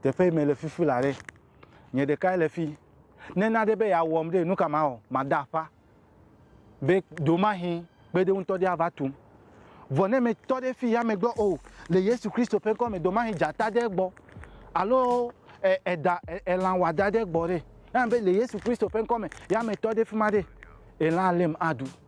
Teƒe yi mele fifi la ɖe, nye ɖekae le fi. Ne na ɖe be yeawɔm ɖe, nu ka mawɔ? Mada aƒa be ɖomahi kpeɖeŋu ŋutɔ ɖe ava tum. Vɔ ne metɔ ɖe fi ya megbe o, le Yesu Kristo ƒe ŋkɔ me, ɖomahi dzata ɖe gbɔ alo eda, elã wɔadã ɖe gbɔ ɖe, anye be le Yesu Kristo ƒe ŋkɔ me, ya metɔ ɖe fi ma ɖe, elã lém aɖu.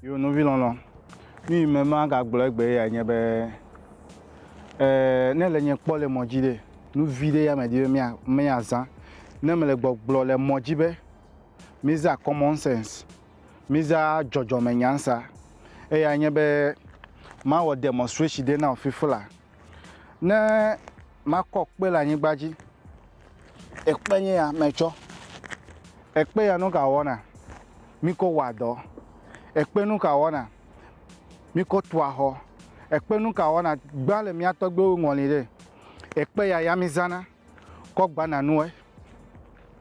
Yo nɔvi lɔlɔ, nu yi me magagblɔ egbe ya nye be ne le nye kpɔ le mɔ dzi ɖe, nu vi ɖe ya me di be mia miazã. Ne mele gbɔgblɔ le mɔ dzi be mizã common sense, mizã dzɔdzɔme nyansa, eya nye be mawɔ demonstration ɖe na wo fifla. Ne makɔ kpe le anyigba dzi ekpe nye ya metsɔ, ekpe ya nuka wɔna? Mikɔ wɔa dɔ, ekpe nuka wɔna? Mikɔ tua xɔ, ekpe nuka wɔna? Gbã le mía tɔgbuiwo ŋɔli ɖɛ, ekpe ya ya mizãna kɔ gbana nuwɔe,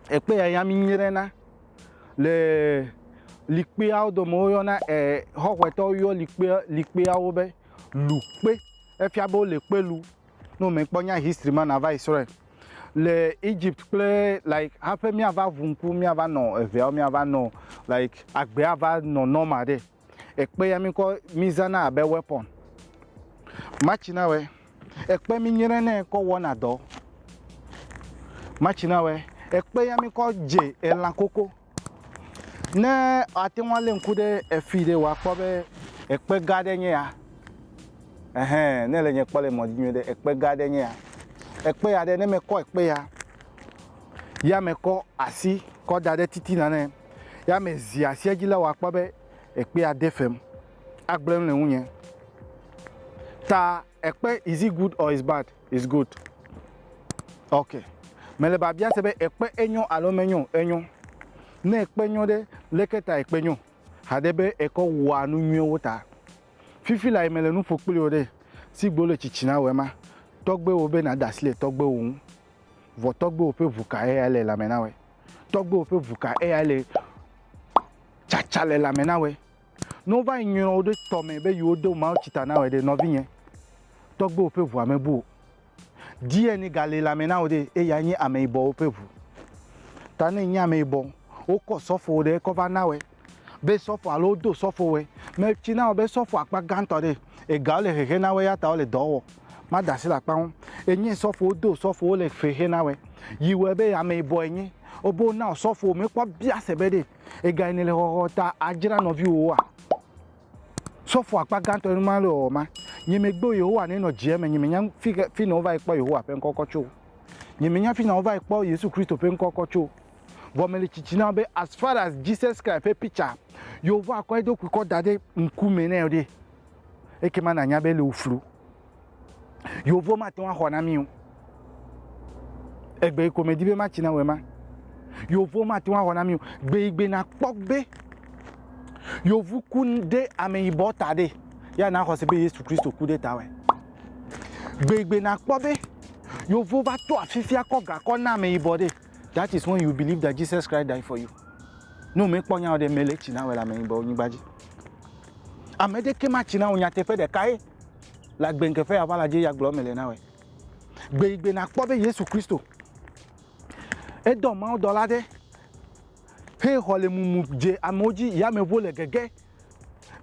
ekpe ya ya mi nyrena le likpeawo dome wo yɔna ɛ xɔxɔe tɔwo yɔ likpeawo be lukpe efia be wole kpe lum. Ne wò me kpɔ nya history ma na va yi srɔ̃e. le Egypt kple like haƒe míava ʋu ŋku míava nɔ eveawo míava nɔ like agbea ava nɔ normal ɖe. Ekpe ya mikɔ mizana abe weapon. Matsi na wɛ ekpe mi nyre nɛ kɔ wɔna dɔ. Matsi na wɛ ekpe ya mikɔ dze elã koko. Ne ate ŋu alé ŋku ɖe efii ɖe, wòa kpɔ be ekpe gã aɖe enye ya. Ɛhɛɛ, ne èle nye kpɔm le mɔ dzi nyuiɖe, ekpe gã aɖe enye ya. Ekpe ya ɖe, ne mekɔ ekpe ya, ya mekɔ asi kɔ da ɖe titina nɛ, ya mezi asi edzi la, wòa kpɔ be ekpea de fem agblẽ nu le ŋunye. Ta ekpe, is it good or is bad? It's good. Okay. Mele biabia se be ekpe enyo alo menyo? Enyo. Ne ekpe nyo ɖe, leke ta ekpe nyo? Haɖe be ekɔ wɔa nu nyuiwo ta. Fifi lae mele nu ƒo kpli wò ɖe. Sigbe wole tsitsina wɔe ma, tɔgbuiwò be nàda asi le tɔgbuiwò ŋu. Vɔ tɔgbuiwò ƒe ʋu ka eyae le lãme na wòe? Tɔgbuiwò ƒe ʋu ka eyae le tsatsa le lãme na wòe? Ne wova yi nyrɔ wo ɖe tɔ mɛ be yewo do mawutsi ta na wɔe ɖe, nɔvinye, tɔgbewo ƒe ʋua me bu o. DNA ga le lãme na wo ɖe, eya nye ameyibɔwo ƒe ʋu. Ta ne enye ameyibɔ, wokɔ sɔfowo ɖe ekɔ va na wɔe be sɔfo alo wodo sɔfo wɔe. Me tsi na wɔ be sɔfo akpa gãtɔ ɖe, egawo le hehe na wɔe ya ta wole dɔ wɔ. Ma da asi le akpa ŋu. Enye sɔfo wodo sɔfo wole hehe na wɔe. Yi wɔe be ameyibɔ enye. Wo be wona wɔ sɔfo me kpɔ biase be ɖe Ega yi nèle xɔxɔ ta adzra nɔviwòwoa? Sɔfo akpa gãtɔ ye numa le ɔ ma. Nye megbe o Yehowa nɛ nɔ djɛ me nye menya fi ke fi nɔ wova yi kpɔ Yehowa ƒe ŋkɔkɔ tso. Nye menya fi nɔ wova yi kpɔ Yesu Kristo ƒe ŋkɔkɔ tso. Vɔ mele tsitsi na wò be as far as Jesus Christ ƒe picture yio vɔ akɔ eɖokui kɔ da ɖe ŋku me nɛ ɖe ekema na nya be ele wò flu. Yehovawo mate ŋu axɔ na mí o. Egbe yi ko medi be matsi na wòe ma. Yehovawo mate ŋu axɔ na mí o. Gbe yi gbe nakpɔ be yevu ku ɖe ameyibɔ ta ɖe, ya naxɔ se be Yesu Kristo ku ɖe ta wɛ. Gbe yi gbe nakpɔ be yevu va to afifia kɔ gakɔ na ameyibɔ ɖe. That is when you believe that Jesus Christ died for you. Ne womekpɔ nya o ɖe mele tsi na wɔ le ame yibɔ nyigba dzi. Ame ɖeke ma tsi na wò nyateƒe ɖeka ye le agbenkeƒe aʋa la dzi ya gblɔ mele na wɔ. Gbe yi gbe nakpɔ be Yesu Kristo edɔ mawo dɔla ɖe he xɔ le mumu dze amewo dzi yameʋu le gege.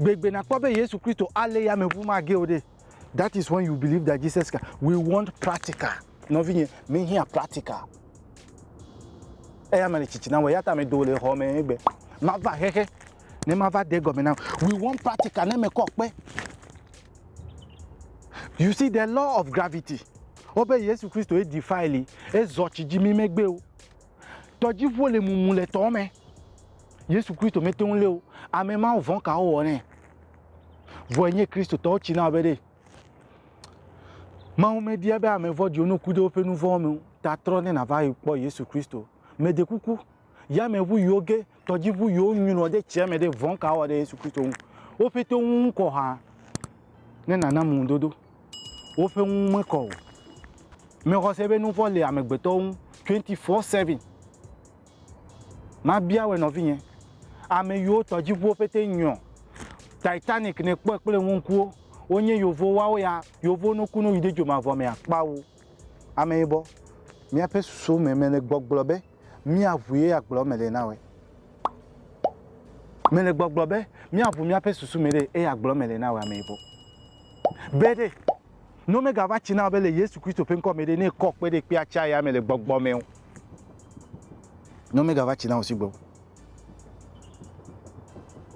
Gbe yi gbe nakpɔ be Yesu Kristo alé yameʋu ma ge o ɖe. That is when you believe that Jesus can. We want practical. Nɔvinye, mi hiã practical. Eya me le tsitsi na wɔ, eya ta me do le xɔ me egbe. Ma va xexe, ne ma va de gɔme na. We want practical, ne me kɔ kpe. You see the law of gravity. Wobe Yesu Kristo e defile, e zɔ tsi dzi mi megbe o. Tɔdziʋuwo le mumu le tɔ me. Yesu Kristo mete ŋu lé o. Ame mawo vɔ̃ ka wowɔ nɛ? Vɔ enye Kristotɔwo tsi na be ɖe Mawu mebia be ame vɔ̃ɖiwo no ku ɖe woƒe nu vɔ̃wo me o ta trɔ ne nàva kpɔ Yesu Kristo. Meɖe kuku, yameʋu yiwo ge tɔdziʋu yiwo nyrɔ ɖe tsia me ɖe vɔ̃ka wɔ ɖe Yesu Kristo ŋu. Wo ƒete wo ŋu kɔ hã ne nàna ŋudodo. Woƒe ŋu mekɔ o. Mexɔse be nuvɔ̃ le amegbetɔwo ŋu twenty four seven. Mabia wɔe nɔvinye, ame yiwo tɔdziʋuwo ƒete nyrɔ, Titanic nèkpɔe kple wò ŋkuwo, wonye Yevowo, woawo ya Yevowo nokunu yi ɖe dzomavɔ mea? Kpao. Ameyibɔ, míaƒe susuwo me mele gbɔgblɔ be míaʋu ye agblɔ eme ɖe na wòe. Mele gbɔgblɔ be míaʋu míaƒe susu me ɖe eye agblɔ eme ɖe na wòe Ameyibɔ. Be ɖe, ne womegava tsi na wò be le Yesu Kristo ƒe ŋkɔ me ɖe, ne èkɔ kpe ɖe kpea tsia ya me le gbɔgblɔ me o. Ne womegava tsi na wò sigbe o.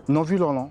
Nɔvi lɔlɔ̃,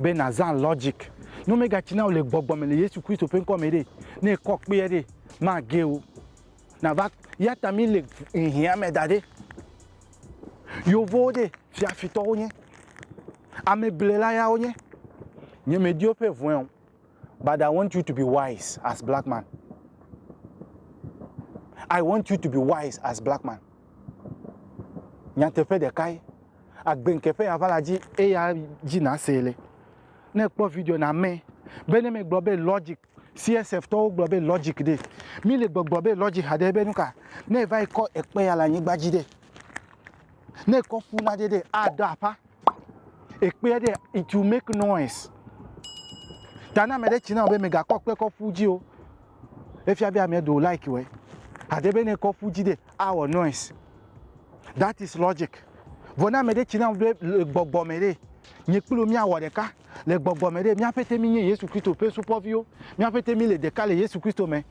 be nàzã logic. Ne womegatsi na wò le gbɔgbɔ me le Yesu Kristo ƒe ŋkɔ me ɖe, ne èkɔ kpee ɖe, mage o. Nava, eyata míle hiã me da ɖe. Yevowo ɖe, fiafitɔ wonye. Ameblela ya wonye. Nye medi woƒe ŋue o. But I want you to be wise as black man. I want you to be wise as black man. Nyateƒe ɖekae, agbe ŋkeƒe ya va la dzi eya dzi na see le. Ne ekpɔ video na me be ne me gblɔ be logic CSF tɔwo gblɔ be logic ɖe mi le gbɔgblɔ be logic haɖe be nuka ne va yi kɔ ekpe ya le anyigba dzi ɖe ne ekɔ ƒu na ɖe ɖe aɖe aƒa ekpea ɖe it will make noise ta na ame ɖe tsi na be megakɔ kpe kɔ ƒu dzi o efia be ame ɖewo like wɛ ade be ne kɔ ƒu dzi ɖe awɔ noise that is logic vɔ na ame ɖe tsi na be le gbɔgbɔ me ɖe nye kplu miawɔ ɖeka le gbɔgbɔ me ɖe míaƒe te mi nye yesu kristo ƒe supɔviwo míaƒe te mi le ɖeka le yesu kristo me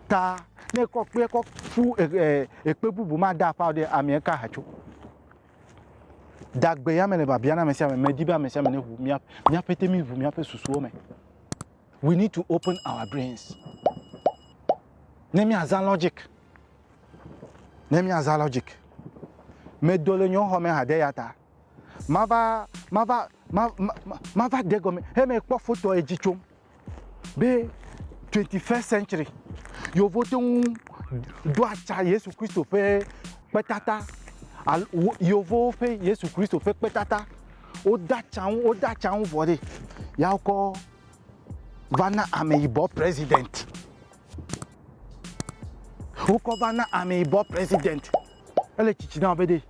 ta ne kɔ kpe kɔ ƒu ekpe bubu ma da aƒa ɖe amea ka hatso Dagbe ya me le biabia na ame sia ame. Medi be ame sia ame neʋu mía míaƒe te mi ʋu míaƒe susuwo me. We need to open our brains. Ne míazã logic. Ne míazã logic. Medo le nyɔxɔ me hade ya ta. Mava mava mava mava de gɔme he mekpɔ foto edzi tsom. be twenty first century yewo te ŋu ɖo atsa Yesu Kristo ƒe kpetata alo yevuwo ƒe Yesu Kristo ƒe kpetata. Wode atsa nu, wode atsa nu vɔ ɖi ya wokɔ va na ameyibɔ president. Wokɔ va na ameyibɔ president. Ele tsitsi na be ɖe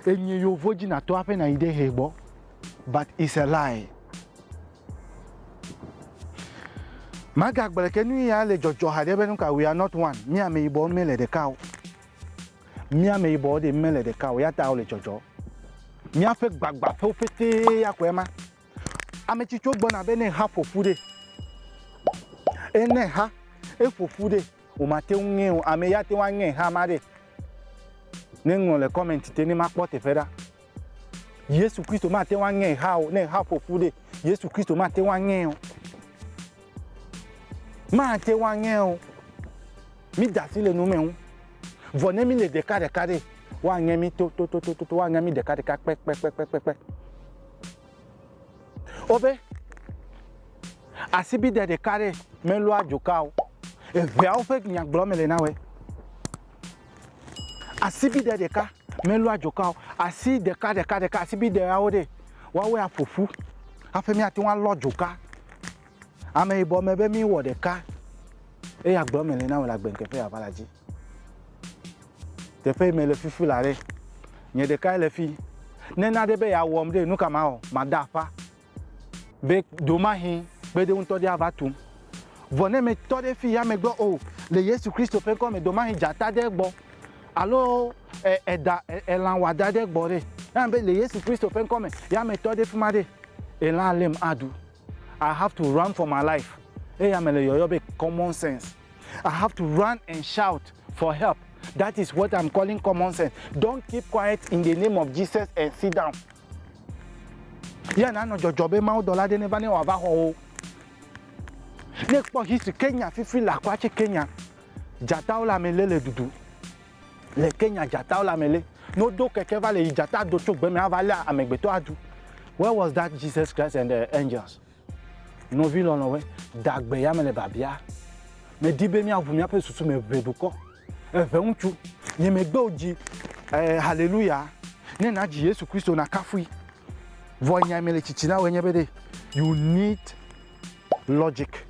enye yevu dzi natɔ aƒe nayi ɖe hɛ gbɔ but it's a lie. Magagblɔe ke nu ya le dzɔdzɔ haɖe be nu ka we are not one, mí ameyibɔwo mele ɖeka o. Mí ameyibɔwo ɖe mele ɖeka o, ya ta wole dzɔdzɔ. Míaƒe gbagbãƒewo ƒetee ya koe ma. Ame tsitsiwo gbɔna be ne ha ƒoƒu ɖe, e ne ha eƒoƒu ɖe o mate ŋu ŋee o. Ame ya te ŋu aŋe ha ma ɖe? Ne ŋlɔ le comment te ne makpɔ teƒe ɖa. Yesu Kristo mate ŋu aŋe exa o. Ne exa ƒo ƒu ɖe, Yesu Kristo mate ŋu aŋee o. Mate ŋu aŋee o. Mi da asi le nu me ŋu. Vɔ ne mi le ɖeka ɖeka ɖe, woaŋe mi to to to to to woaŋe mi ɖeka ɖeka kpe kpe kpe kpe kpe kpe. Wobe asibide ɖeka ɖe melɔa dzoka o. Eveawo ƒe nyagblɔ me le na wɛ. Asibide ɖeka melu adzɔka o. Asi ɖeka ɖeka ɖeka asibideawo ɖe woawɔe aƒo ƒu hafi míate ŋu alɔ adzɔka. Ameyibɔ me be míwɔ ɖeka eye agblɔ eme le na wò le agbe ŋkeke yeava la dzi. Teƒe yi mele fifi la ɖe, nye ɖekae le fi. Ne nane be yeawɔm ɖe, nu ka mawɔ? Mada aƒa. Be domahi kpede ŋutɔ ɖe ava tum. Vɔ ne metɔ ɖe fi ya megbe o, le Yesu Kristo ƒe ŋkɔ me, domahi dzata ɖe gbɔ alo e, eda, e, elã wɔada ɖe gbɔ ɖe. Eya be le Yesu Kristo ƒe ŋkɔ me, ya metɔ ɖe fi ma ɖe, elã além aɖu. I have to run for my life. Eya mele yɔyɔ be common sense. I have to run and shout for help. That is what I'm calling common sense. Don't keep quiet in the name of Jesus and sit down. Yea nanɔ dzɔdzɔ be mawudɔla aɖe neva ne wòava xɔ wo. Ne ekpɔ history, Kenya fifi le akɔa tse Kenya. Dzatawo le ame lé le ɖuɖu. Le Kenya dzatawo le ame lé. Ne wodo keke va le yi dzata do tso gbe me ava lé amegbetɔ aɖu. Where was that Jesus Christ and the angels? Nɔvi lɔlɔ̃we, de agbe ya me le biabia, Medi be míaʋu míaƒe susu me ʋɛ dukɔ. Eve ŋutsu, nye megbe wò dzi eh, haleluya, ne nàdzi Yesu Kristo nàkafui. Vɔ nya yi mele tsitsi na wòe nye be ɖe you need logic.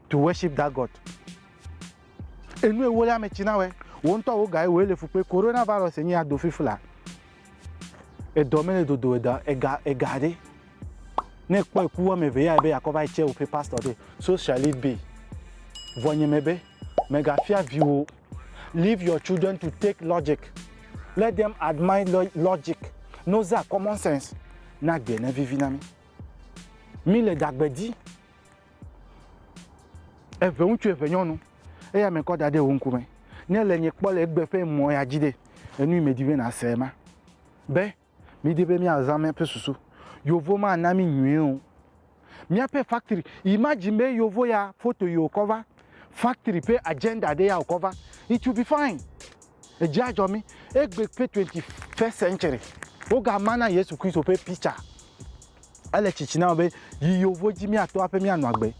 To worship that God. Enu ewo le ame tsi na wɛ. Wo ŋutɔ wo ga ewo ele fukpe. Corona virus enyi ya do fifla. Edɔ mele dodo eda ega ega ɖe. Ne kpɔ eku wɔme eve ya ebe yakɔ va yi tse woƒe pastor ɖe. So shall it be. Vɔ nye me be mega fia viwo. Leave your children to take logic. Let them admire logic. No za common sense. Na gbe ne vivi na mi. Mi le dagbe di. Eve ŋutsu eve nyɔnu eya me kɔ da ɖe wò ŋku me. Ne le nye kpɔ le egbe ƒe mɔ ya dzi ɖe, enu yi me di be na se ma. Be, mi di be mia zã miaƒe susu. Yovo ma na mi nyuie o. Miaƒe factory, imagine be yovo ya foto yi wokɔ va, factory ƒe agenda ɖe ya wokɔ va, it will be fine. Edzi adzɔ mi. Egbe ƒe twenty first century, wo ga ma na Yesu Kristo ƒe picture. Ele tsitsi na wò be yi yovo dzi míato aƒe míanɔ agbe.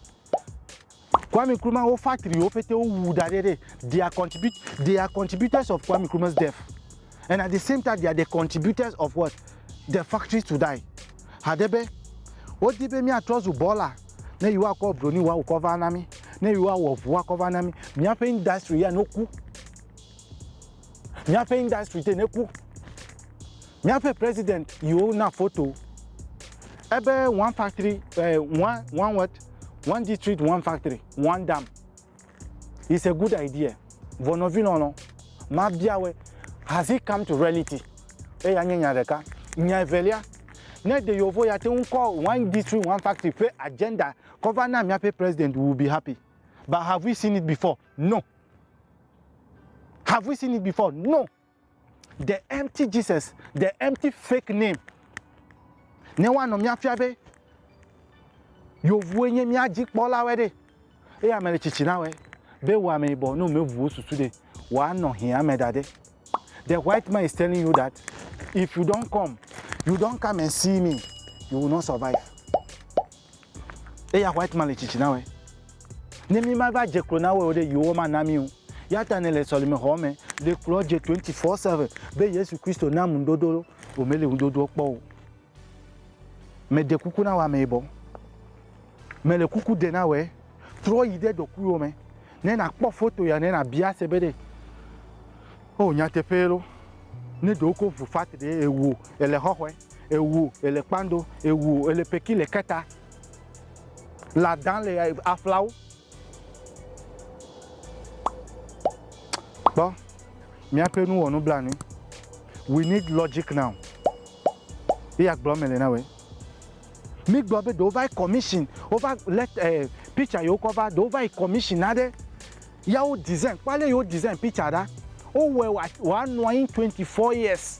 Kwame Nkrumah wo factorywo pete wowu da ɖɛ ɖe they are contribut they are contributors of Kwame Nkrumah's death and at the same time they are the contributors of what the factories to die. Haɖe be wodi be míatrɔ zu bɔla ne yewoakɔ broni wɔ awu kɔ va na mí, ne yewoawɔ ŋu akɔ va na mí, míaƒe industry ya no ku. Míaƒe industry te neku. Míaƒe president yiwo na foto ebe one factory eh, one one what one district one factory one dam is a good idea. Vɔ nɔvi lɔlɔ, mabiawɔe has it come to reality? Eya nye nya ɖeka. Nya evelia, ne de yewo vɔ ya te ŋu kɔ one district one factory ƒe agenda kɔ va na míaƒe president we will be happy. But have we seen it before? No. Have we seen it before? No. The empty Jesus, the empty fake name. Ne woanɔ míafia be yovue nye mía dzi kpɔlawe ɖe, eye ame le tsitsi na we be wò ame yibɔ ne wòmeʋuwo susu ɖe, wòanɔ hiã me da ɖe. The white man is telling you that if you don't come, you don't come and see me, you will not survive. Eya white man le tsitsi na wɛ. Ne mi ma va dze klo na wɛ o ɖe, yewo ma na mi o. Ya ta ne le sɔlime xɔ me, le klo dze 24 seven be Yesu Kristo na mu ŋudodo lo, wo me le ŋudodoɔ kpɔ o. Me de kuku na wɛ ame yibɔ. Me le kuku de na wɛ, trɔ yi ɖe ɖokuiwo me. Ne na kpɔ foto ya ne na bia se be ɖe, o nyateƒee lo, ne ɖewo ko vu fat ɖe, ewo, ele xɔxɔe. Ewu ele kpando, ewu ele peki le keta. La dan le aflawo. Kpɔ, míaƒe nu wɔ nublanui. We need logic now. Eya gblɔ me le na we. Mi gblɔ be ɖewo va yi commission, wo va let eh, picture yewo kɔ va, ɖewo va yi commission aɖe. Ya wo design, kpɔ ale yewo design picture ɖa. Wo wɔ wa wa nɔ anyi 24 years.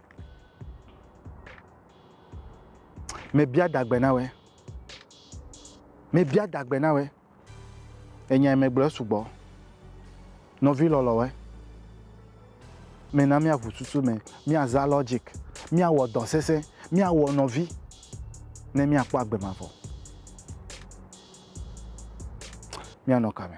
Mebia dagbe na wòe. Mebia dagbe na wòe. Enya yi megblɔ esugbɔ. Nɔvi lɔlɔ̃woe. Mena míaʋu susu me. Míazã logic. Míawɔ dɔ sesẽ. Míawɔ nɔvi ne míakpɔ agbe mavɔ. Míanɔ kame.